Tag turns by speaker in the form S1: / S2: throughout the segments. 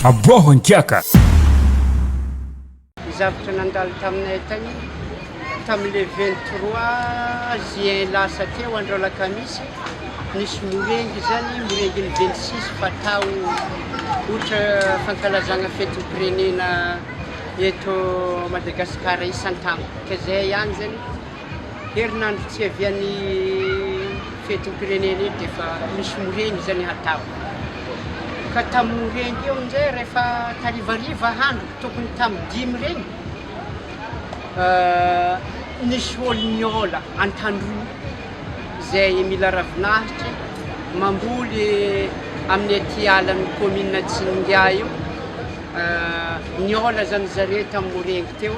S1: Aboaho an-kiaka!
S2: Ny zavatra nandalo taminay tany tamin'ny le vingt trois juin lasa teo andro alakamisy, nisy morengy zany, morengin'ny vingt six fatao ohatra fankalazagna fetim-pirenena eto Madagasikara isan-taogno, ka zay ihany zany. Herinandro tsy hiavian'ny fetim-pirenena iny dia efa misy moreny izany hatabo. Ka tamin'ny moreny io amin'izay rehefa tarivariva andro tokony tamin'ny dimy ireny, nisy olo niôla an-tandroy izay mila ravinahitra mamboly amin'ny aty alan'ny kaominina Tsiningahy io. Niôla izany zareo tamin'ny moreny teo.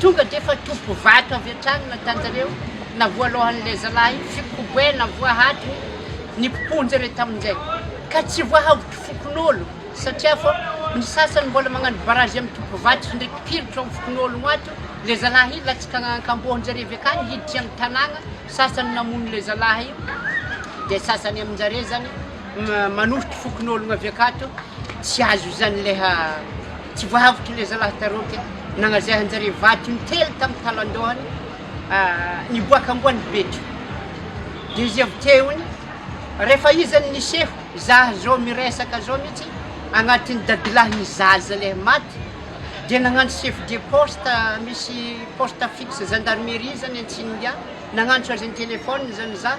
S2: Tonga dia efa toby vato avy hatrany ny tanjareo, na voalohan'ilay zalahy fikoboe na voahadiny ny mponja re tamin'izay, ka tsy voahavotra fokonolona, satria fa ny sasany mbola magnano barazy amin'ny toby vato sy ndray piritra ao fokonolona ato, ilay zalahy io latsaka ankambohonjareo avy akany hiditra amin'ny tanàna, sasany namono ilay zalahy io, dia sasany aminjareo zany, manofotro fokonolona avy akato tsy azo izany leh tsy voahavotra le zalahy tareo ke nagnazahanjare vato intelo tam talandohany niboaka amboany betro de izy avy teony rehefa izany niseho zah zao miresaka zao mihitsy agnatin'ny dadilahy ny zaza leh maty de nagnano chef de poste misy poste fixe gendarmerie zany antsinigà nagnantso azy an-telefona zany zah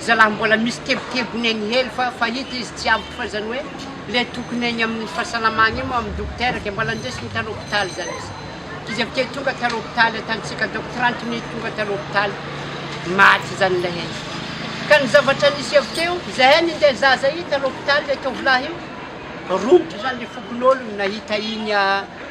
S2: Zalah mbola misy kebokebony any hely fa fahita izy tsy ampy fa zany hoe le tokony any aminy fahasalamana iny moa aminy dokotera de mbola ndesiny tany hopitaly zany izy izy avekeo tonga tany hopitaly atantsika donc trente minute tonga tany hopitaly maty zany le izy ka ny zavatra nisy avekeo zahay ninde zaza iny tany hopitaly le tovolahy io romotra zany le fokonolony nahita iny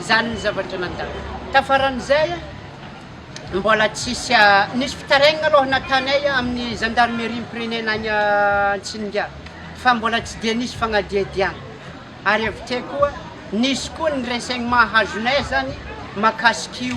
S2: Izany ny zavatra nandalo. Tafaran'izay, mbola tsisy nisy fitarainana aloha nataonay amin'ny zandarimeriam-pirenena any Antsiningahy fa mbola tsy dia nisy fanadihadiana. Ary avy teo koa, nisy koa ny renseignements azonay izany mahakasik'io.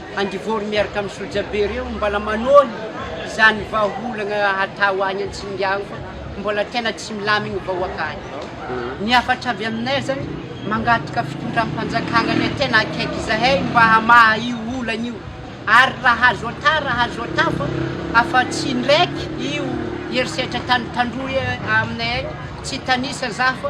S2: Andivory miaraka amin'ny sojabe ireo mbola manohy izany vahaolana hatao any Antsingango mbola tena tsy milamigny vahoaka any. Ny hafatra avy aminay zany mangataka fitondram-panjakagna le tena akaiky izahay mba hamaha io olana io ary raha azo ata raha azo ata fa afa tsy indraiky io herisetra tany tandroy aminay any tsy hitanisa za fa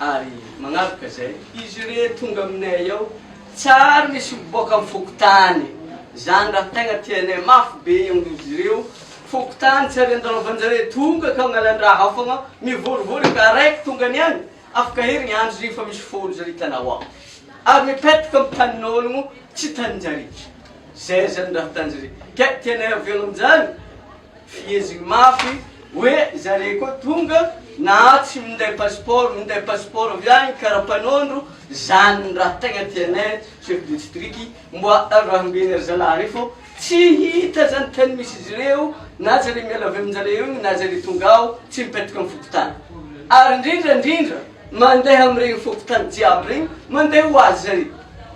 S1: Ary magnavaka izay, izy irey tonga aminay ao, tsary misy mipoaka amin'ny fokontany, izany raha tegna tianay mafy be izy ireo, fokontany tsy ary andalovanjareo tonga ka mialandraha fogna, mivorivory efa araiky tonga niany, afaka herigny andro izy fa misy folo zare hitanao ao, ary mipetaka amin'ny tanin'ologno tsy taninjare, zay zany raha ataonjare, ke tianay avela aminjany. Fiheziny mafy hoe zareo koa tonga na tsy minday passeport minday passeport avy any karapanondro zany ny raha tegna tianay chef de district mba arahambena ry zalahy reo fô tsy hita zany tany misy izy reo na zare miala avy aminjare eo na zare tonga ao tsy mipetraka am fokotany ary ndrindra ndrindra mandeha amregny fokotany jiaby regny mandeha hoazy zare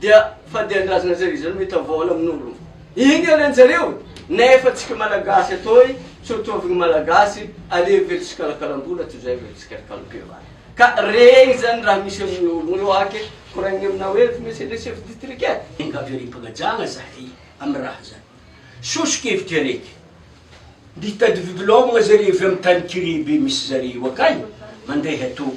S1: Dia fadian-drazana zay izany hoe tavolo amin'olo. Iny aloha njareo nefa tsika malagasy atoy tsy ho tovin'ny malagasy aleo ve tsikalakalam-bola toy zay ve tsikalakalam-pivavahana. Ka regny zany raha misy amin'olo eo ake koragniny aminao hoe eto mihitsy le chef ditrict e. Enga avy ary mpagajagna
S3: zahay amy raha zany. Soso-kevitry araiky. Mitady vodilaogna zareo avy amy tany kiribe misy zareo akagny mandeha atoa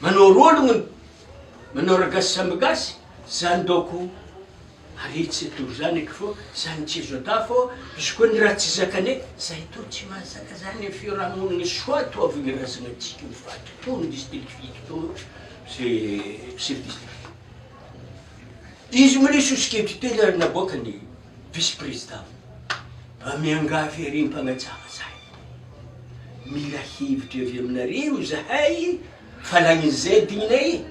S3: Manao rôlogno ny manao ragasy samby gasy zany dôko ary tsy atoro zany eky fô zany tsy azo atao fô izy koa ny raha tsy zakane zay tô tsy mahazaka zany ny fiarahamonigny soa tô avy ny razagnatsika ho faty tô ny district fito tô ze chef district izy mbola sosokevitry tena naboakany Vice Président, mba miangavy ery mpagnajava zay, mila hevitra avy aminareo zahay fa la ny zedinay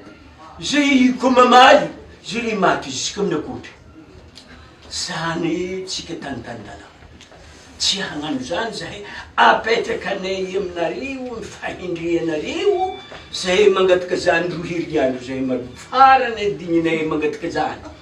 S3: zay ko mamaly zay le maty jusque amina kotra zany tsika tany tany dalana tsy hagnano zany zahay apetraka anay aminareo ny fahendreanareo zahay mangataka zany roa heriandro zay maloha farany digninay mangataka zany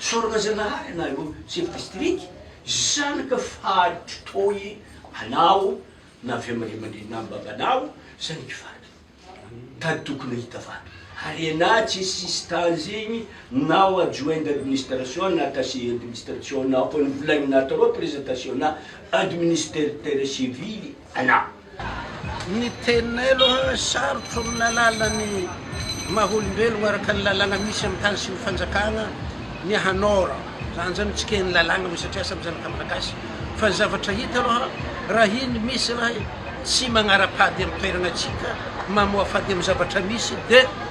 S3: Sorona Zanahary anareo chef district zanaka faritry toi anao na avy am raiamandreny na am babanao zanak'i vato tady tokony hahita vato ary enà tsy sisy tanjigny nao adjoint d'administration na attaché administration nao fa ny volagnina trop présentation na administerteur civily anao. Ny
S4: teninay aloha sarotra olona alala ny maha olombelogno araka ny lalàgna misy amin'ny tany sy ny fanjakagna ny hanôra zany zany tsikehin'ny lalàgna hoe satria samy zanaka malagasy fa ny zavatra hita aloha raha iny misy zalahy tsy magnara-pady amin'ny toeragna tsika mamoafady amin'ny zavatra misy de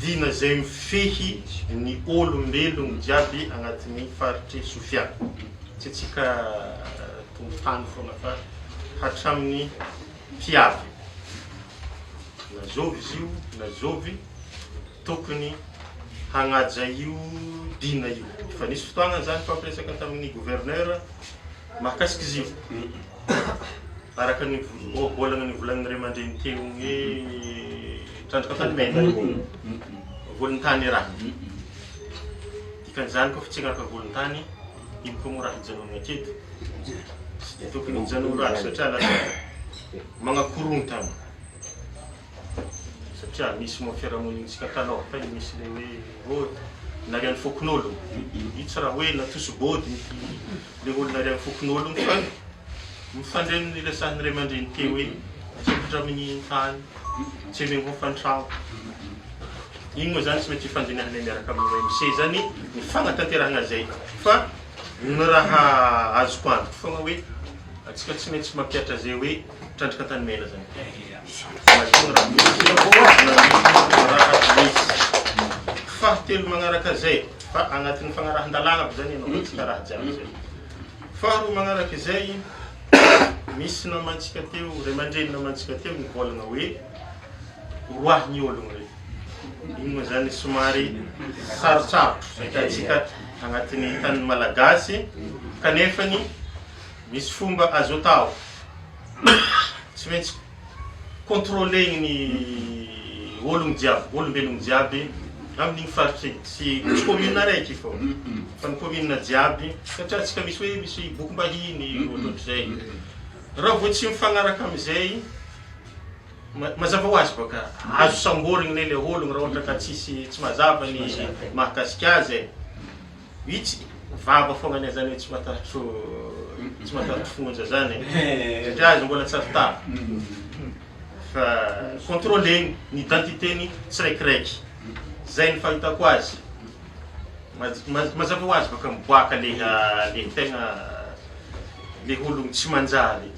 S4: Dina
S5: izay mifehy ny ôlombelogno jiaby agnatin'ny faritry Sofia. Tsy antsika tompotany foana fa hatramin'ny mpiavy. Na zovy izy io na zovy tokony hagnaja io dina io. Efa nisy fotoagna zany fa mpiresaka tamin'ny gouverneur. Mahakasika izy io, araka ny ohabolana novolan'ny ray aman-dreny teo hoe trandraka faty may na io volon-tany ra. Dikan'izany koa fa tsy hangalaka volon-tany, iny koa moa raha hijanonana aketo. Tsy dia tokony hijanona raha satria lasa manakorotana. satria misy moa fiarahamonintsika tanorta io misy le hoe body na ry any fokonolon io tsy raha hoe natoso body mity le olona ry any fokonolon fa mifandray amin'ny resahan'ny ray aman-dreny te hoe tsapitra amin'ny tany tsy eny angofantrao iny moa zany tsy mety hifandinahana miaraka amin'ny OMC zany ny fanatanterahana zay fa ny raha azoko antoka foana hoe atsika tsy maintsy mampiatra zay hoe Trandraka tany mena zany. Masinina raha misy sira poa na misy raha misy. Fahatelo magnaraka zay, fa agnatin'ny fagnarahan-dalàna aby zany ianao fa tsy karaha jiaby zay. Faharoa magnaraka izay, misy namantsika teo, ray aman-dreny namantsika teo nivôlagna hoe, oroahigny ôlogno reo. Igny moa zany somary sarotsarotro hitantsika agnatin'ny tanin'ny Malagasy, kanefany, Misy fomba azo atao. Tsy maintsy contrôler-ny ny ologno jiaby, olombelogno jiaby amin'igny faritry igny. Tsy tsy commune araiky fô fa ny commune jiaby satria antsika misy hoe misy bokim-bahiny ohatrohatrizay. Raha vao tsy mifagnaraka amizay, ma- mazava ho azy baka azo samborigny ne le ologno raha ohatra ka tsisy tsy mazava ny mahakasika azy e. Vitsy ny vava foagna ny zany hoe tsy matatro tsy matatro fonja zany satria azy mbola tsy avy tafa. Fa controler-ny ny identité-ny tsiraikiraiky. Zay ny fahitako azy. Maz- maz- mazava ho azy baka miboaka le ah, le tegna le ologno tsy manjary.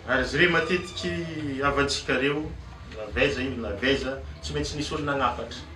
S5: Ary izy reo matetiky havantsika reo na avy aiza io na avy aiza tsy maintsy nisy olo nagnafatra.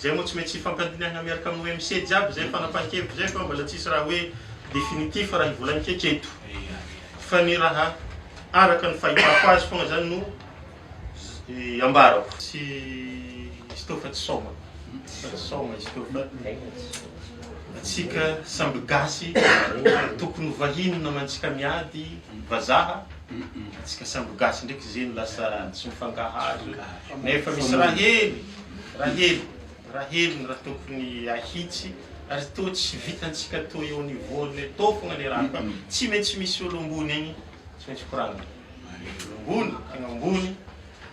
S5: Zay moa tsy mety tsy hifampandinihana miaraka amin'ny OMC jiaby zay fanapahan-kevitra zay fa mbola tsisy raha hoe définitif raha ivolagniko hatreto fa ny raha araka ny fahitako azy fogna zany no ambarako. Tsy izy tô fa tsy saoma fa tsy saoma izy tô fa atsika samby gasy tokony ho vahiny namantsika miady vazaha. Antsika sambo gasy ndraiky ze no lasa tsy mifangaharo nefa misy raha hely raha hely raha hely ny raha tokony ahitsy ary toa tsy vitantsika toa eo niveau ny atao fogna le raha fa tsy maintsy misy olo ambony agny tsy maintsy koragnina olo ambony tegna ambony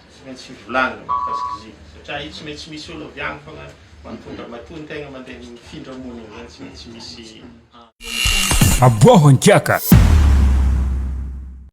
S5: tsy maintsy volagnina mikasika izy io satria io tsy maintsy misy olo avy agny fogna matonga matoa antegna mandeha mifindra mony igny zany
S6: tsy
S5: maintsy misy Aboaho an-kiaka!